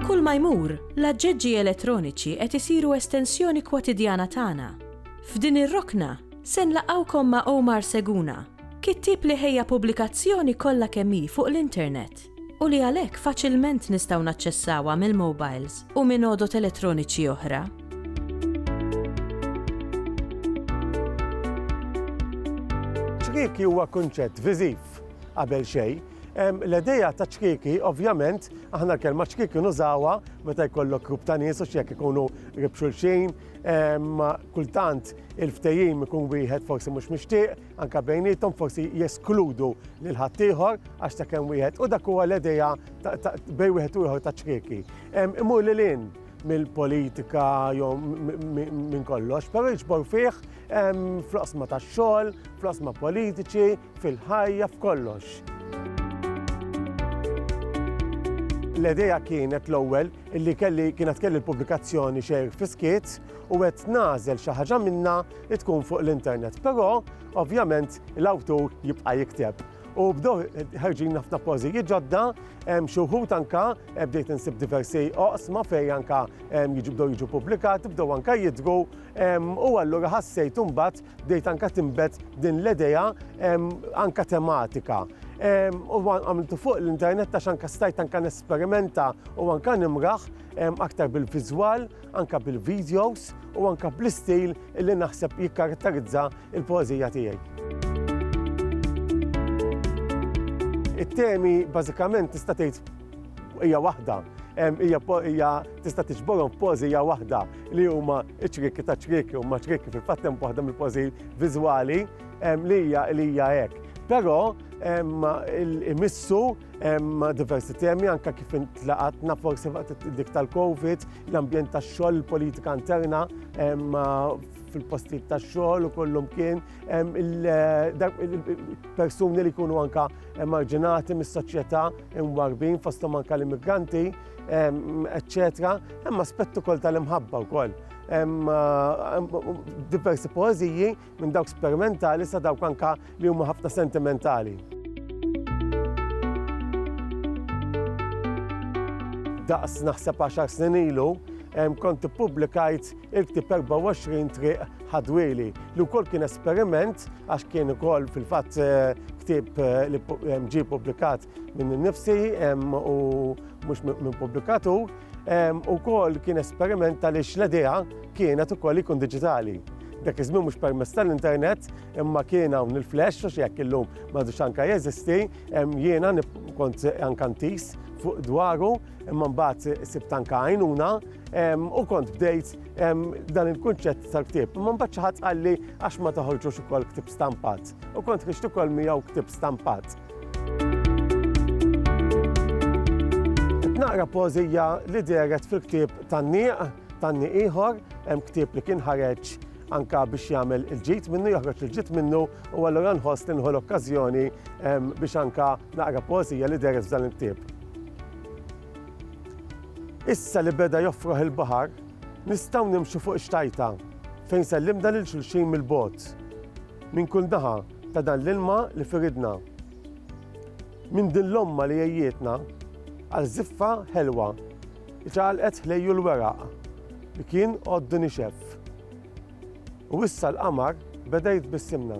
Kull ma jmur, l-aġġeġġi elettroniċi qed isiru estensjoni kwotidjana tagħna. F'din ir-rokna, se nlaqgħukom ma' Omar Seguna, kittieb li ħejja pubblikazzjoni kollha kemm hi fuq l-internet. u li għalhekk faċilment nistgħu naċċessawha mill-mowbajls u minn għodod elettroniċi oħra. Ċkieki huwa kunċett viżiv qabel xejn L-edeja ta' ċkiki, ovvjament, aħna kelma ċkiki nużawa meta jkollok grupp ta' nies u xjek ikunu ribxulxin, kultant il-ftejim ikun wieħed forsi mhux mixtieq, anke bejniethom forsi jeskludu lil ħaddieħor għax ta' kemm wieħed u dak huwa l-idea bejn wieħed u ieħor ta' ċrieki. Imur lil hinn mill-politika jew minn kollox, però jiġbor fih fl-qosma tax-xogħol, fl-qosma politiċi, fil-ħajja, f'kollox. L-idea kienet l-ewwel illi kelli kienet kelli l-pubblikazzjoni xejr fiskiet u qed nagħżel xi ħaġa minnha li tkun fuq l-internet. Però ovvjament l-awtur jibqa' jikteb. U bdew ħarġin ħafna pożijiet ġodda, xi wħud anka bdejt insib diversi oqsma fejn anka jiġibdew jiġu pubblikat, bdew anka jidru u allura ħassejt imbagħad bdejt anka timbet din l-idea anka tematika. U għamiltu fuq l-internet għax anka stajt anka nesperimenta u anka nimraħ aktar bil-viżwal anke bil-videos u anke bl-istil li naħseb jikkaratterizza l-poeżija tiegħi. It-temi bażikament tista' tgħid hija waħda, hija tista' tiġborhom pożija waħda li huma ċriki ta' ċriki huma ċriki fil-fatt hemm waħda mill-pożi viżwali li hija li hija hekk. Però imissu Hemm diversi temi anke kif intlaqatna forsi waqt dik tal-Covid, l-ambjent tax-xogħol, il-politika interna fil-postijiet tax-xogħol u kollum kien il-persuni li jkunu anke emarġinati mis-soċjetà imwarbin fosthom anke l-immigranti, eċċetera. Hemm aspett ukoll tal-imħabba wkoll. Hemm diversi poeżiji minn dawk sperimentali sa dawk anka li huma ħafna sentimentali. daqs naħseb 10 snin ilu, kont ippubblikajt il-ktib 24 triq ħadwili li wkoll kien esperiment għax kien ukoll fil-fatt eh, ktib eh, li ġie publikat minn nifsi u mhux minn publikatur. u kol kien esperiment tal l-idea kienet u kol ikun digitali. Dak iż mux permess tal-internet, imma kien hawn il-flash, u xiek illum madux anka jeżisti, jiena kont ankantis fuq dwaru, imma mbagħad sibt anka għajnuna, u kont bdejt dan il-kunċett tal-ktib. Imma mbagħad xi ħadd qalli għax ma toħorġux ukoll ktib stampat. U kont ħriġt ukoll miegħu ktib stampat. Naqra pożija li deret fil-ktieb tan-nieq, tan-nieq ieħor, hemm ktieb li kien ħareġ anka biex jagħmel il-ġid minnu, joħroġ il-ġid minnu, u allura nħoss li nħu l-okkażjoni ehm, biex anka naqra pożija li deret f'dan il-ktieb. Issa li beda joffroħ il-baħar, nistgħu nimxu fuq xtajta fejn sellimna lil xulxin mill-bot. Minn kull naħa ta' dan l-ilma li fi ridna, minn din l-omma li għejjietna għal żiffa ħelwa li ċaqalqet ħlejju l-weraq li kien għoddu nixef. U issa l-qamar beda jitbissimna.